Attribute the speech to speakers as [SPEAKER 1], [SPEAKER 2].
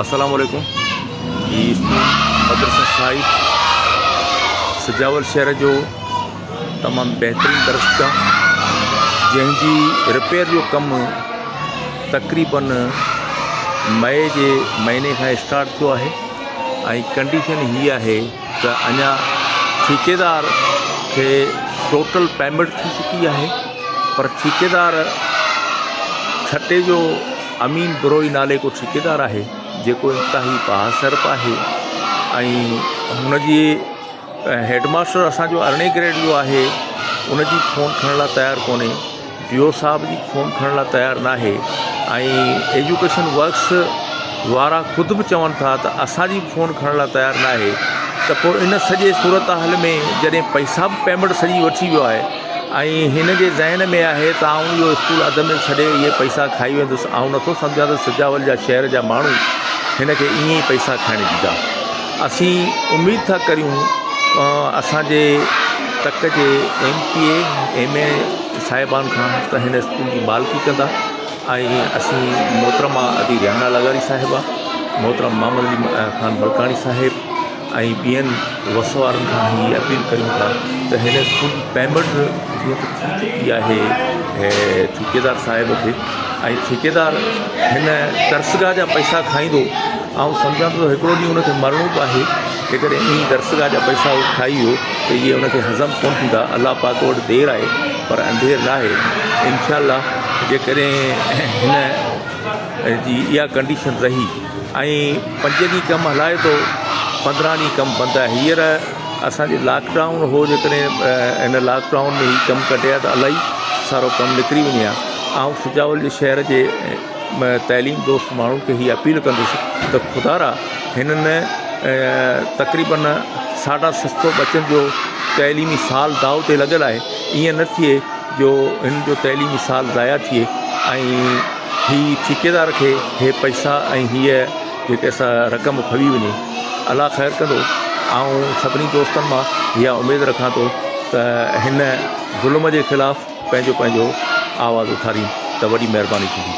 [SPEAKER 1] السلام عليڪم جي مدرسه صاحب سجاول شهر جو تمام بهترين درسگا جنهن جي رپيئر جو ڪم تقريبن مئي جي مهيني کان اسٽارٽ ٿيو آهي ۽ ڪنڊيشن هي آهي ته اڃا ٺيڪيدار کي ٽوٽل پيمنٽ ٿي چڪي آهي پر ٺيڪيدار ڇٽي جو امين بروهي نالي ڪو ٺيڪيدار آهي جيڪو انتهائي بااثر به آهي ۽ هن جي هيڊ ماستر اسانجو ارڙهين گريڊ جو آهي ان جي فون کڻڻ لاء تيار ڪونهي ڊيو صاحب جي فون کڻڻ لاء تيار ناهي ۽ ايجوڪيشن ورڪس وارا خود به چون ٿا ته اسانجي به فون کڻڻ لاء تيار ناهي ته پوء ان سڄي صورتحال ۾ جڏهن پئسا به پيمنٽ سڄي وٺي ويو آهي ۽ هن جي ذهن ۾ آهي ته آئون اهو اسڪول اڌ ۾ ڇڏي اهي پئسا کائي ويندس، آئون نٿو سمجهان ته سجاول جا شهر جا ماڻهو هن کي ائين ئي پئسا کائڻ ڏيندا. اسين اميد ٿا ڪريون اسان جي تڪ جي M P A, M A صاحبان کان ته هن اسڪول جي مالڪي ڪندا ۽ اسين محترمه ادي رحمڻا لغاري صاحبه، محترم محمد علي خان ملڪاڻي صاحب، ۽ ٻين وس وارن کان به اهي اپيل ڪريون ٿا ته هن اسڪول جي پيمنٽ جيئن ته ٿي چڪي آهي ٺيڪيدار صاحب کي ۽ ٺيڪيدار هن درسگاهه جا پئسا کائيندو آئون سمجهان ٿو هڪڙو ڏينهن هن کي مرڻو به آهي جيڪڏهن ائين ئي درسگاهه جا پئسا هو کائي ويو ته اهي هن کي هضم ڪونه ٿيندا الله پاڪ وٽ دير آهي پر انڌير نه آهي انشاء الله جيڪڏهن هن جي اها ڪنڊيشن رهي ۽ پنج ڏينهن ڪم هلائي ٿو پندرهن ڏينهن ڪم بند آهي هيئر اسانجي لاڪ ڊائون هو جيڪڏهن هن لاڪ ڊائون ۾ هي ڪم ڪڍي ها ته الاهي سارو ڪم نڪري وڃي ها آئون سجاول جي شهر جي تعليم دوست ماڻهن کي هي اپيل ڪندس ته خدارا هنن تقريبن ساڍا ست سو ٻچن جو تعليمي سال داؤ تي لڳل آهي ائين نه ٿئي جو هن جو تعليمي سال ضايع ٿئي ۽ هي ٺيڪيدار کي هي پئسا ۽ هيء جيڪي اسان رقم ڦوي وڃي الله خير ڪندو آئون سڀني دوستن مان اها اميد رکان ٿو ته هن ظلم جي خلاف پنهنجو پنهنجو آواز اٿارين ته وڏي مهرباني ٿيندي.